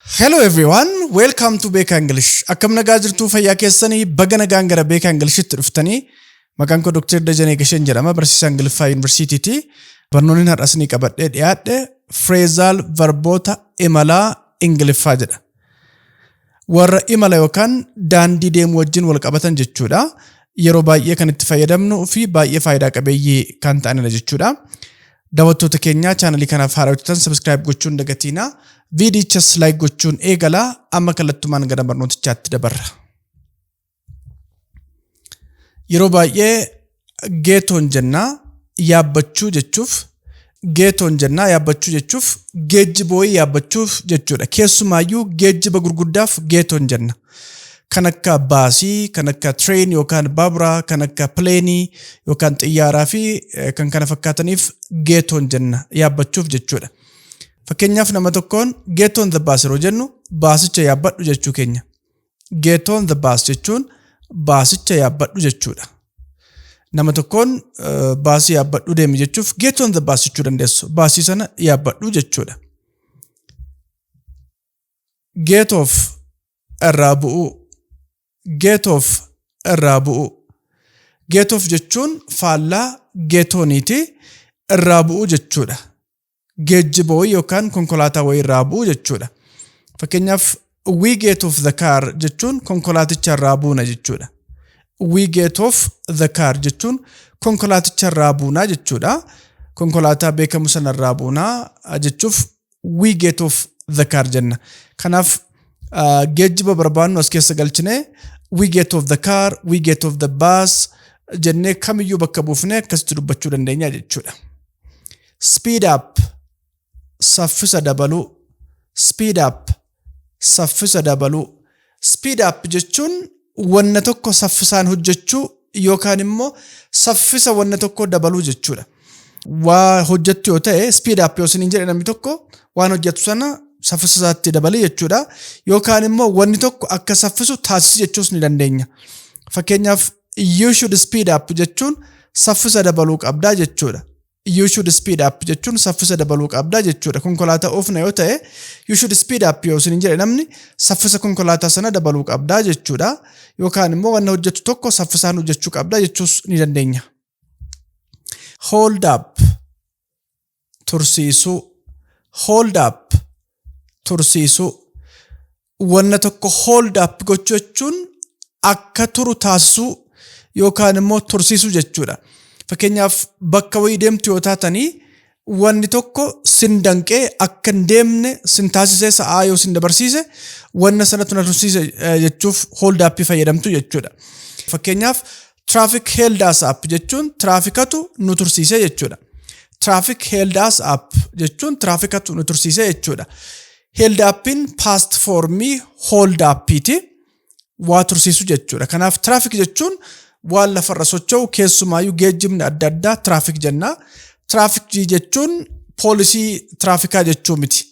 Hello everyone, welcome to Beekaa English. Akkam nagaa jirtuu fayyaa keessanii baga nagaan gara Beekaa Ingilishtti dhuftanii. Maqaan koo Dr. Dajanee Gasheen jedhama, barsiisaa Ingiliffaa Yuunivarsiitiiti. Barnoonni har'as ni qabadhee dhiyaadhe Freezaal Varboota Imalaa Ingiliffaa jedha. Warra imala yookaan daandii deemuu wajjin wal qabatan jechuudha. Yeroo baay'ee kan itti fayyadamnuu fi baay'ee faayidaa qabeeyyii kan ta'anidha jechuudha. Daawwattoota keenyaa chaanalii kanaaf haaraa hojjetan sabiskiraayib gochuun dagatiinaa. Viidiyichas laayik gochuun eegalaa amma kallattumaan gara barnootichaatti dabarra. Yeroo baay'ee geetoon jennaa yaabbachuu jechuuf geetoon jennaa yaabbachuu jechuuf geejjibooyii yaabbachuuf jechuudha. Keessumaayyuu geejjiba gurguddaaf geetoon jenna. kan akka baasii, kan akka train yookaan baaburaa, kan akka pileenii yookaan xiyyaaraa fi eh, kan kana fakkaataniif geetoon jenna yaabbachuuf jechuudha. Fakkeenyaaf nama tokkoon geetoon the bus yeroo jennu baasicha yaabbadhu jechuu keenya. Geetoon the bus jechuun baasicha yaabbadhu jechuudha. Nama tokkoon eh, baasii yaabbadhu deemi jechuuf geetoon the bus jechuu dandeessu. Baasii sana yaabbadhu jechuudha. Get off irraa bu'uu. Get off irraa bu'uu. Get off jechuun faallaa get on'iti. Irraa bu'uu jechuudha. Geejjiba wayii yookaan konkolaataa wayii irraa bu'uu jechuudha. Fakkeenyaaf we get off the car jechuun konkolaaticha irraa buuna jechuudha. We get off the car jechuun konkolaaticha irraa buunaa jechuudha. Konkolaataa beekamu sana irraa buunaa jechuuf we get off the car jenna. Kanaaf uh, geejjiba barbaannu as keessa galchine we get off the car, we get off the bus jennee kamiyyuu bakka buufnee akkasitti dubbachuu dandeenya jechuudha. Speed up saffisa dabaluu speed up Saffisa dabaluu, Speed up, jechuun wanna tokko saffisaan hojjechuu yookaan immoo saffisa wanna tokkoo dabaluu jechuudha. Waa hojjettu yoo ta'e speed up yoo isiniin jedhe namni tokko waan hojjettu sana saffisa isaatti dabali jechuudha. Yookaan immoo wanni tokko akka saffisu taasisi jechuus ni dandeenya. Fakkeenyaaf you should speed up jechuun saffisa dabaluu qabdaa jechuudha. you should speed up jechuun saffisa dabaluu qabda jechuudha. Konkolaataa oofna yoo ta'e you should speed up yoo isin jedhe namni saffisa konkolaataa sana dabaluu qabda jechuudha. Yookaan immoo wanna hojjettu tokko saffisaan hojjechuu qabda jechuus ni dandeenya. Hold up tursiisuu hold up tursiisuu wanna tokko hold up gochuu jechuun akka turu taasisuu yookaan immoo tursiisuu jechuudha. Fakkeenyaaf bakka wayii deemtu yoo taatanii wanni tokko sin danqee akka hin deemne sin taasisee sa'aa yoo sin dabarsiise wanna sanatu na tursiise eh, jechuuf hold up fayyadamtu jechuudha. Fakkeenyaaf traffic held us up jechuun tiraafikatu nu tursiise jechuudha. Traffic held us up jechuun tiraafikatu nu tursiise jechuudha. Held appiin past foormii hold appiiti. Waa tursiisu jechuudha. Kanaaf tiraafik jechuun waan lafarra socho'u keessumaayyuu geejjibni adda addaa tiraafik jenna. Tiraafik jechuun poolisii tiraafikaa jechuu miti.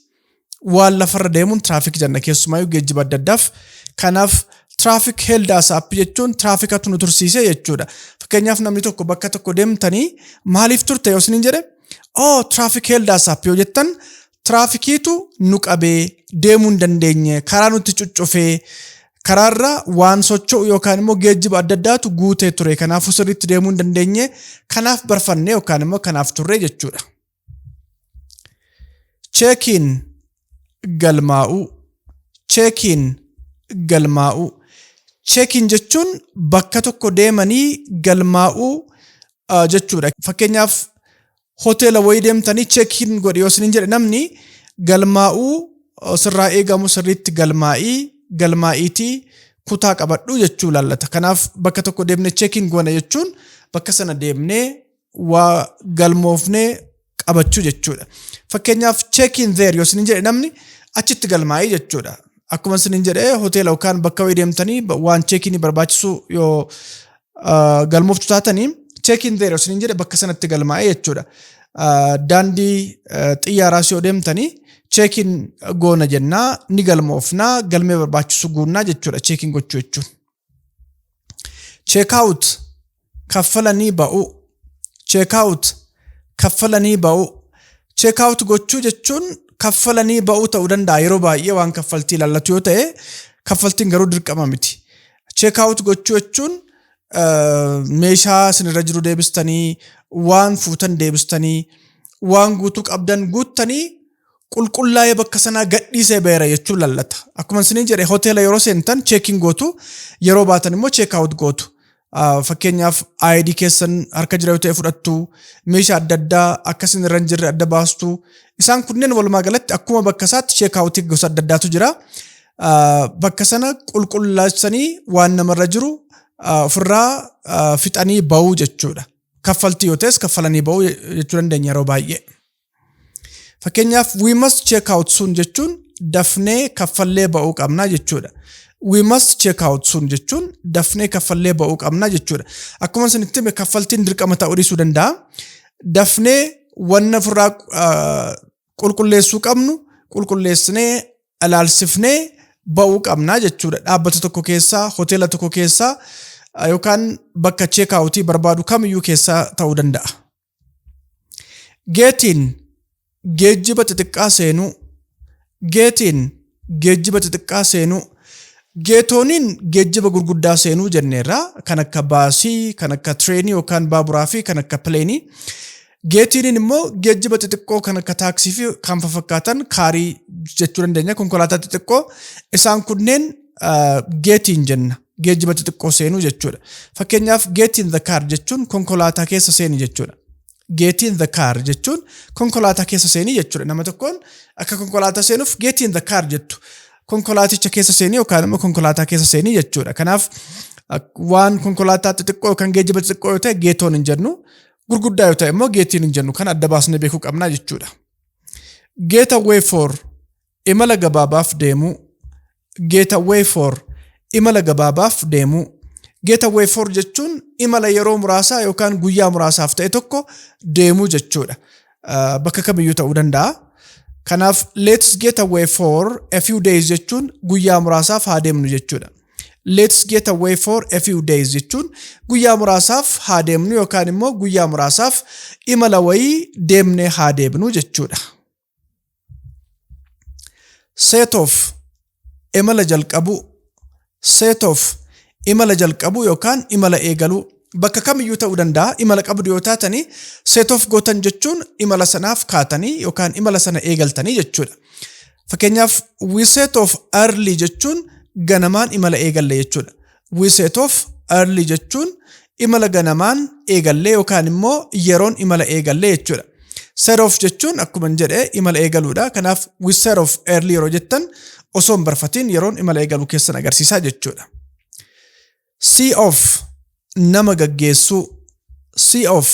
Waan lafarra deemuun tiraafik jenna keessumaayyuu geejjiba adda addaaf. Kanaaf tiraafik heldaas appii jechuun tiraafikatu nu tursiise jechuudha. Fakkeenyaaf namni tokko bakka tokko deemtanii maaliif turte yoo isiniin jedhe oo tiraafik heldaas appii yoo jettan Tiraafikiitu nu qabee deemuu hin dandeenye, karaa nutti cuccufee, karaarra waan socho'u yookaan immoo geejjiba adda addaatu guutee ture. Kanaafuu sirriitti deemuu hin dandeenye, kanaaf barfanne yookaan immoo kanaaf turre jechuudha. Cheekiin galmaa'uu. Cheekiin galmaa'uu. Cheekiin jechuun bakka tokko deemanii galmaa'uu jechuudha. Fakkeenyaaf hoteela wayii deemtanii cheekiin godhi yoo isiniin jedhe namni galmaa'uu sirraa eegamu sirriitti galmaa'ii galmaa'iitii kutaa qabadhu jechuu laallata. Kanaaf bakka tokko deemnee cheekiin goona jechuun bakka sana deemnee waa galmoofnee qabachuu jechuudha. Fakkeenyaaf cheekiin zeer yoo isiniin jedhe namni achitti galmaa'ii jechuudha. Akkuma isiniin jedhe hoteela yookaan bakka wayii deemtanii waan cheekiinii barbaachisu yoo galmooftu taatanii check in there osoo hin jedhe bakka sanatti galmaa'ee jechuudha. Daandii xiyyaaraa si odeemtanii check in goona jennaa ni galmoofnaa galmee barbaachisu guunnaa jechuudha check in gochuu jechuun. Check out kaffalanii ba'uu check out kaffalanii ba'uu check out gochuu jechuun kaffalanii ba'uu ta'uu danda'a yeroo baay'ee waan kaffaltii ilaallatu yoo ta'e kaffaltiin garuu dirqama miti. check out gochuu jechuun meeshaa isinirra jiru deebistanii waan fuutan deebistanii waan guutuu qabdan guuttanii qulqullaa'ee bakka sanaa gadhiisee beera jechuu lallata. Akkuma isinii jedhe hoteela yeroo seentan cheekiin gootu yeroo baatan immoo cheek out gootu. Fakkeenyaaf ID keessan harka jira yoo ta'e fudhattu meeshaa adda addaa akka isin irra hin jirre adda baastu isaan kunneen walumaa galatti akkuma bakka isaatti cheek out gosa adda addaatu jira. bakka sana qulqullaachanii waan namarra jiru ofirraa fixanii ba'uu jechuudha. Kaffaltii yoo ta'es kaffalanii ba'uu jechuu dandeenya yeroo baay'ee. Fakkeenyaaf we must check out soon jechuun dafnee kaffallee ba'uu qabna jechuudha. We must check out soon jechuun dafnee kaffallee ba'uu qabna jechuudha. Akkuma isinitti hime kaffaltiin dirqama ta'uu dhiisuu danda'a. Dafnee wanna ofirraa qulqulleessuu qabnu qulqulleessinee ilaalsifnee ba'uu qabnaa jechuudha. Dhaabbata tokko keessaa, hoteela tokko keessaa yookaan bakka cheekaawutii barbaadu kamiyyuu keessaa ta'uu danda'a. Geetiin geejjiba xixiqqaa seenuu, geetiin Geejjiba xixiqqaa seenuu. Geetooniin geejjiba gurguddaa seenuu jenneerra. Kan akka baasii, kan akka tireenii yookaan baaburaa fi kan akka pileenii. Geetiiniin immoo geejjiba xixiqqoo kan akka taaksii fi kan fafakkaatan kaarii jechuu dandeenya. Konkolaataa xixiqqoo isaan kunneen ah, geetiin jenna. Geejjiba xixiqqoo seenuu jechuudha. Fakkeenyaaf geetiin the car jechuun konkolaataa keessa seeni jechuudha. Get in the car jechuun konkolaataa keessa seenii jechuudha. Nama tokkoon akka konkolaataa seenuuf get in the car jettu. Konkolaaticha keessa seenii yookaan immoo konkolaataa keessa seenii jechuudha. Kanaaf waan konkolaataa xixiqqoo yookaan geejjiba xixiqqoo yoo ta'e geetoon hin jennu. Gurguddaa yoo ta'e immoo geetiin hin jennu. Kan adda baasnee beekuu qabna jechuudha. Get away for Imala gabaabaaf deemuu Getaway for Imala gabaabaaf deemuu Getaway for jechuun imala yeroo muraasaa yookaan guyyaa muraasaaf ta'e tokko deemuu jechuudha. Ah, Bakka kamiyyuu ta'uu danda'a. Kanaaf let's get away for a few days jechuun guyyaa muraasaaf haa deemnu jechuudha. Let's get away for a few days jechuun guyyaa muraasaaf haa deemnu yookaan immoo guyyaa muraasaaf imala wayii deemnee haa deebinu jechuudha. set of imala jalqabuu set of imala jalqabuu yookaan imala eegaluu bakka kamiyyuu ta'uu danda'a imala qabdu yoo taatanii set of gootan jechuun imala sanaaf kaatanii yookaan imala sana eegaltanii jechuudha. Fakkeenyaaf we set of early jechuun ganamaan imala eegalle jechuudha. We set off early jechuun imala ganamaan eegallee yookaan immoo yeroon imala eegallee jechuudha. Set off jechuun akkuma hin jedhe imala eegaluudha. Kanaaf we set off early yeroo jettan osoo hin barfatiin yeroon imala eegaluu keessan agarsiisaa jechuudha. See off nama gaggeessuu. See off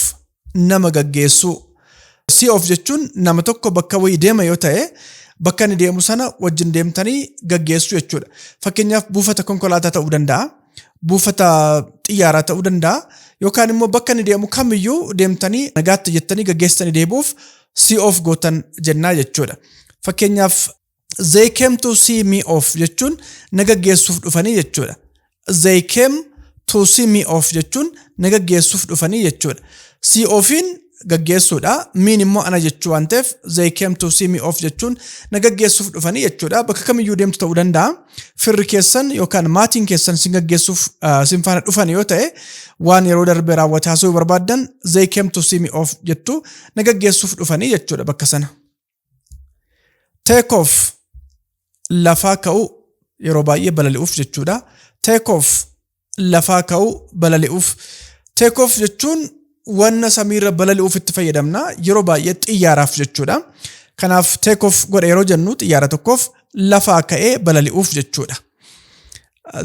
nama gaggeessuu. Si of jechuun nama tokko bakka wayii deema yoo ta'e bakka inni deemu sana wajjin deemtanii gaggeessuu jechuudha. Fakkeenyaaf buufata konkolaataa ta'uu danda'a, buufata xiyyaaraa ta'uu danda'a yookaan immoo bakka inni deemu kamiyyuu deemtanii nagaatti jettanii gaggeessitanii deebi'uuf si of gootan jennaa jechuudha. Fakkeenyaaf They came to see me off jechuun na gaggeessuuf dhufanii jechuudha. They came to see me off jechuun na gaggeessuuf dhufanii jechuudha. See offiin gaggeessuudha. Miin immoo ana jechuu waan ta'eef they came to see me off jechuun na gaggeessuuf dhufanii jechuudha. Bakka kamiyyuu deemtu ta'uu danda'a. Firri keessan yookaan maatiin keessan sin gaggeessuuf ah, sin faana dhufan yoo ta'e waan yeroo darbe raawwate haasa'uu barbaaddan they came to see me off jettu na gaggeessuuf dhufanii jechuudha bakka sana. Take off lafaa ka'u yeroo baay'ee balali'uuf jechuudha. Take off lafaa ka'u balali'uuf. Take off jechuun wanna samiirra balali'uuf itti fayyadamna yeroo baay'ee xiyyaaraaf jechuudha. Kanaaf take off godha yeroo jennu xiyyaara tokkoof lafaa ka'ee balali'uuf jechuudha.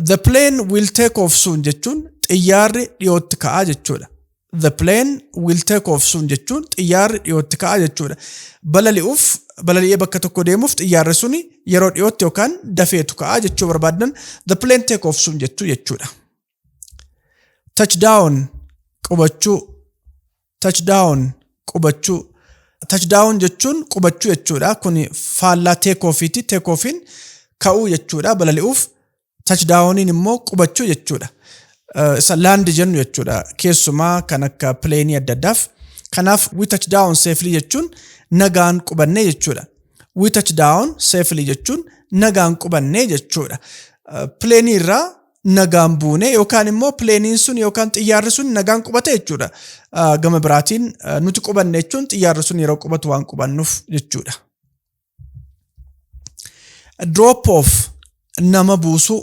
The plane will take off soon jechuun xiyyaarri dhiyootti ka'a jechuudha. the plane will take off soon jechuun xiyyaarri dhiyootti ka'a jechuudha. Balali'uuf balali'ee bakka tokko deemuuf xiyyaarri suni yeroo dhiyootti yookaan dafeetu ka'a jechuu barbaadan the plane take off soon jechuu jechuudha. Touchdown qubachuu touchdown qubachuu touchdown jechuun qubachuu jechuudha. Kun faallaa take offiiti. Take offiin ka'uu jechuudha balali'uuf Tachdaawoniin immoo qubachuu jechuudha. Isa laandi jennu jechuudha. Keessumaa kan akka pileenii adda addaaf. Kanaaf we touch down safely jechuun nagaan qubannee jechuudha. We touch down safely jechuun nagaan qubannee jechuudha. Pileenii irraa nagaan buune yookaan immoo pileeniin sun yookaan xiyyaarri sun nagaan qubate jechuudha. Gama biraatiin nuti qubanne jechuun xiyyaarri sun yeroo qubatu waan qubannuuf jechuudha. drop off nama buusuu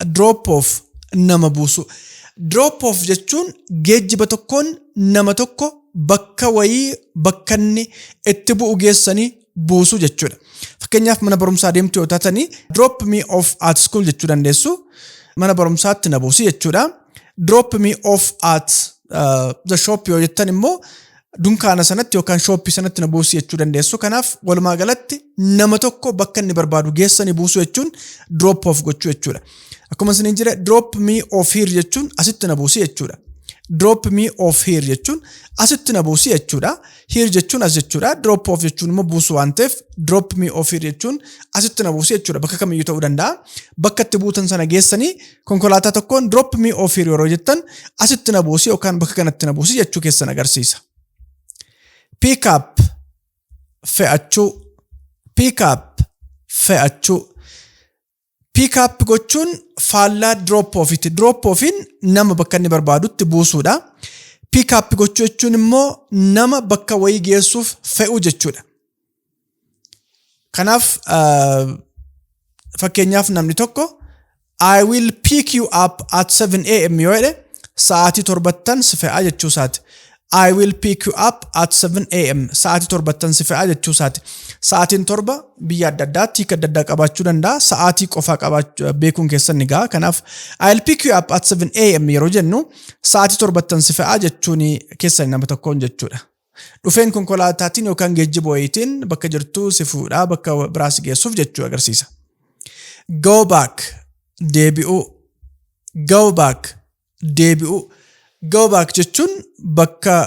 drop off nama buusuu drop off jechuun geejjiba tokkoon nama tokko bakka wayii bakka inni itti bu'u geessanii buusuu jechuudha. Fakkeenyaaf mana barumsaa deemtu yoo taatanii drop me off at school jechuu dandeessu mana barumsaatti na buusi jechuudha. Drop me off at uh, the shop yoo jettan immoo dunkaana sanatti yookaan shooppii sanatti na buusi jechuu dandeessu. Kanaaf walumaa galatti nama tokko bakka inni barbaadu geessanii buusuu jechuun drop off gochuu jechuudha. Akkuma isiniin jedhe drop me off here jechuun asitti na buusi jechuudha. Drop me off here jechuun asitti na buusi jechuudha. Here jechuun as jechuudha. Drop off jechuun immoo buusu waan ta'eef drop me off here jechuun asitti na buusi jechuudha. Bakka kamiyyuu ta'uu danda'a. Bakka itti buutan sana geessanii konkolaataa tokkoon drop me off here yeroo jettan asitti na buusi yookaan bakka kanatti na buusi jechuu keessan agarsiisa. Pick up fe'achuu pick up fe'achuu pick up gochuun faallaa drop offitti drop offiin nama bakka inni barbaadutti buusuudha. Pick up gochuu jechuun immoo nama bakka wayii geessuuf fe'uu jechuudha. Kanaaf fakkeenyaaf namni tokko I will pick you up at 7 am yoo jedhe sa'aatii torbattan si fe'aa jechuu isaati. I will pick you up at 7 am sa'aatii torbattan si fe'aa jechuu isaati. Sa'aatiin torba biyya adda addaatti hiika adda addaa qabaachuu danda'a. Sa'aatii qofaa qabaachuu beekuun keessan ni ga'a. Kanaaf I will pick you up at 7 am yeroo jennu sa'aatii torbattan si fe'aa jechuun keessan nama tokkoon jechuudha. Dhufeen konkolaataatiin yookaan geejjiba wayiitiin bakka jirtuu si fuudhaa bakka biraa si geessuuf jechuu agarsiisa. Go back deebi'uu Go back deebi'uu Go back jechuun bakka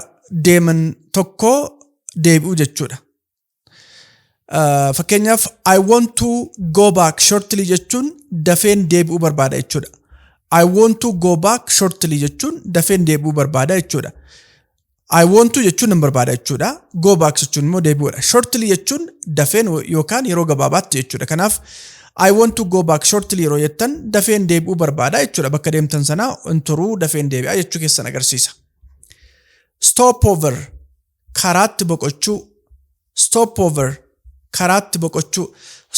deeman tokkoo deebi'uu jechuudha. Uh, fakkeenyaaf I want to go back shortly jechuun dafeen deebi'uu barbaada jechuudha. I want to go back shortly jechuun dafeen deebi'uu barbaada jechuudha. I want to jechuun nan barbaada jechuudha. Go back jechuun immoo deebi'uudha. Shortly jechuun dafeen yookaan yeroo gabaabaatti jechuudha. Kanaaf I want to go back shortly yeroo jettan dafeen deebi'uu barbaada jechuudha. Bakka deemtan sana hin turuu dafeen deebi'aa jechuu keessan agarsiisa. Stop over karaatti boqochuu stopover karaatti boqochuu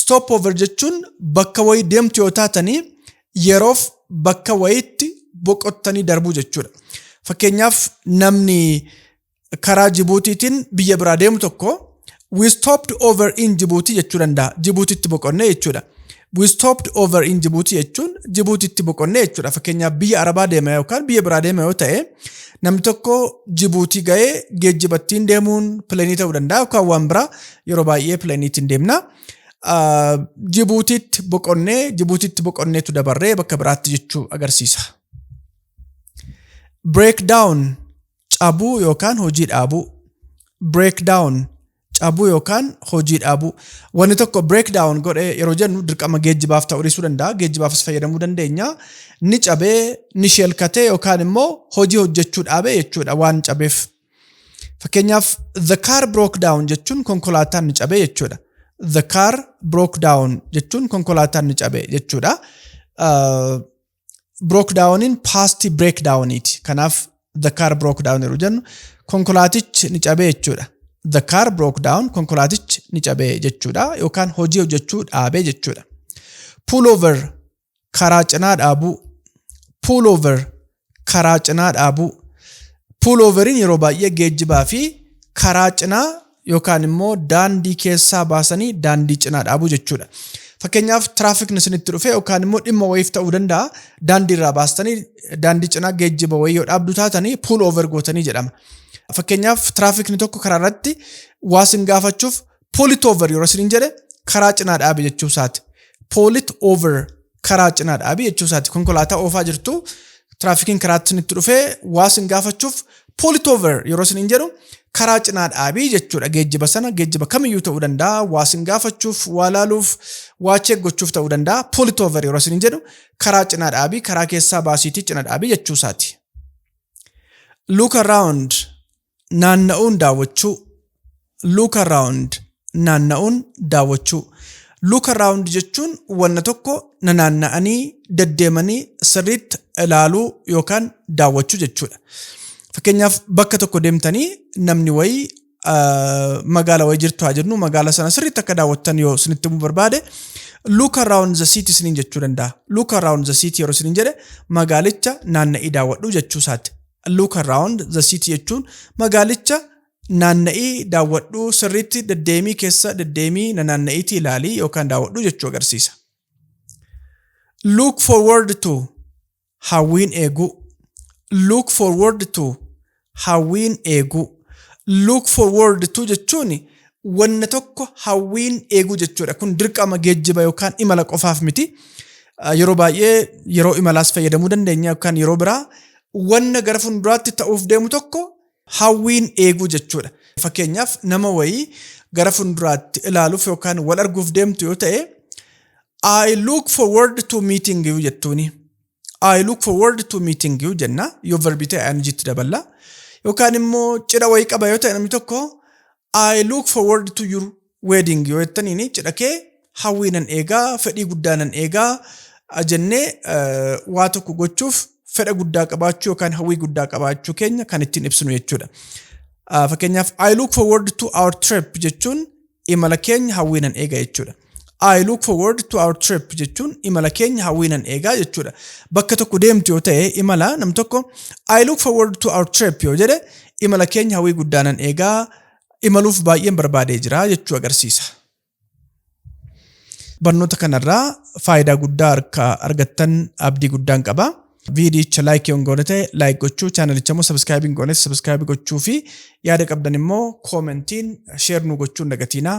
stopover jechuun bakka wayii deemtu yoo taatanii yeroof bakka wayiitti boqottanii darbuu jechuudha. Fakkeenyaaf namni karaa Jibuutiitiin biyya biraa deemu tokko we stopped over in Jibuutii jechuu danda'a. Jibuutiitti boqonnee jechuudha. We stopped over in Djibouti jechuun Jibuutitti boqonne jechuudha. Fakkeenyaaf biyya Arabaa deema yookaan biyya biraa deema yoo ta'e namni tokko Jibuutii ga'ee geejjibattiin deemuun pileenii ta'uu danda'a yookaan waan biraa yeroo baay'ee pileeniitiin deemna. Ah, Jibuutitti boqonnee Jibuutitti boqonneetu dabarree bakka biraatti jechuu agarsiisa. Breakdown cabuu yookaan hojii dhaabuu break down cabuu yookaan hojii dhaabuu wanni tokko break down godhe yeroo jennu dirqama geejjibaaf ta'uu dhiisuu danda'a geejjibaafis fayyadamuu dandeenya ni cabee ni sheelkatee yookaan immoo hojii hojjechuu dhaabee jechuudha waan cabeef fakkeenyaaf the car broke down jechuun konkolaataan ni cabee jechuudha the car broke down jechuun konkolaataan ni cabee jechuudha. Uh, broke downiin past break downiiti. Kanaaf the car broke down yeroo jennu konkolaatichi ni cabe jechuudha. The car broke down konkolaatichi ni cabe jechuudha yookaan hojii hojjechuu dhaabe jechuudha. Pull over karaa cinaa dhaabuu. Pull over karaa cinaa dhaabuu. Pull overiin yeroo baay'ee geejjibaa fi karaa cinaa yookaan immoo daandii keessaa baasanii daandii cinaa dhaabuu jechuudha. Fakkeenyaaf tiraafikni isinitti dhufe yookaan immoo dhimma wayiif ta'uu danda'a daandii irraa baastanii daandii cinaa geejjiba wayii yoo dhaabdu taatanii puul oover gootanii jedhama. Fakkeenyaaf tiraafikni tokko karaa irratti waa isin gaafachuuf puulit oover yeroo isiniin jedhe karaa cinaa dhaabe jechuu isaati. Puulit oover karaa cinaa dhaabi jechuu isaati. Konkolaataa oofaa jirtu tiraafikiin karaatti isinitti dhufee waa isin gaafachuuf poolitoover yeroo isiniin jedhu karaa cinaa dhaabi jechuudha. Geejjiba sana geejjiba kamiyyuu ta'uu danda'a. Waa isin gaafachuuf, waa laaluuf, waa cheek gochuuf ta'uu danda'a. Poolitoover yeroo isiniin jedhu karaa cinaa dhaabi, karaa keessaa baasiitii cina dhaabi jechuu isaati. Look around naanna'uun daawwachuu look around naanna'uun daawwachuu look around jechuun wanna tokko nanaanna'anii deddeemanii sirriitti ilaaluu yookaan daawwachuu jechuudha. Fakkeenyaaf bakka tokko deemtanii namni wayii magaala wayii jirtu haa jennu magaala sana sirriitti akka daawwattan yoo isinitti himuu barbaade look around the city isiniin jechuu danda'a. Look around the city yeroo isiniin jedhe magaalicha naanna'ii daawwadhu jechuu isaati. Look around the city jechuun magaalicha naanna'ii daawwadhu sirriitti deddeemii keessa deddeemii nanaanna'iitii ilaalii yookaan daawwadhu jechuu agarsiisa. Look forward to hawwiin eeguu. Look forward to hawwiin eeguu. Look forward to jechuun wanna tokko hawwiin eeguu jechuudha. Kun dirqama geejjiba yookaan imala qofaaf miti. Yeroo baay'ee yeroo imalaas fayyadamuu dandeenya yookaan yeroo biraa Wanna gara funduraatti ta'uuf deemu tokko hawwiin eeguu jechuudha. Fakkeenyaaf nama wayii gara funduraatti ilaaluuf yookaan wal arguuf deemtu yoo ta'e I look forward to meeting you jettuuni. I look forward to meeting you jenna yoo verbii ta'e ing itti daballa. Yookaan immoo cidha wayii qaba yoo ta'e namni tokko I look forward to your wedding yoo jettaniin cidha kee hawwii nan eegaa fedhii guddaa nan eegaa ah, jennee eh, waa tokko gochuuf fedha guddaa qabaachuu yookaan hawwii guddaa qabaachuu keenya kan ittiin ibsinu jechuudha. Ah, Fakkeenyaaf I look forward to our trip jechuun imala keenya hawwii nan eega jechuudha. I look forward to our trip jechuun imala keenya hawwiinan eegaa jechuudha. Bakka tokko deemtu yoo ta'e imala nam tokko I look forward to our trip yoo jedhe imala keenya hawwii guddaanan eegaa imaluuf baay'een barbaadee jira jechuu agarsiisa. Barnoota kanarraa faayidaa guddaa akka argattan abdii guddaan qaba. Viidiyicha laayikii hin goone ta'e laayik gochuu, chaanalicha immoo sabiskaayibii hin goones sabiskaayibii gochuu fi yaada qabdan immoo koomentiin sheer nu gochuun dagatiinaa.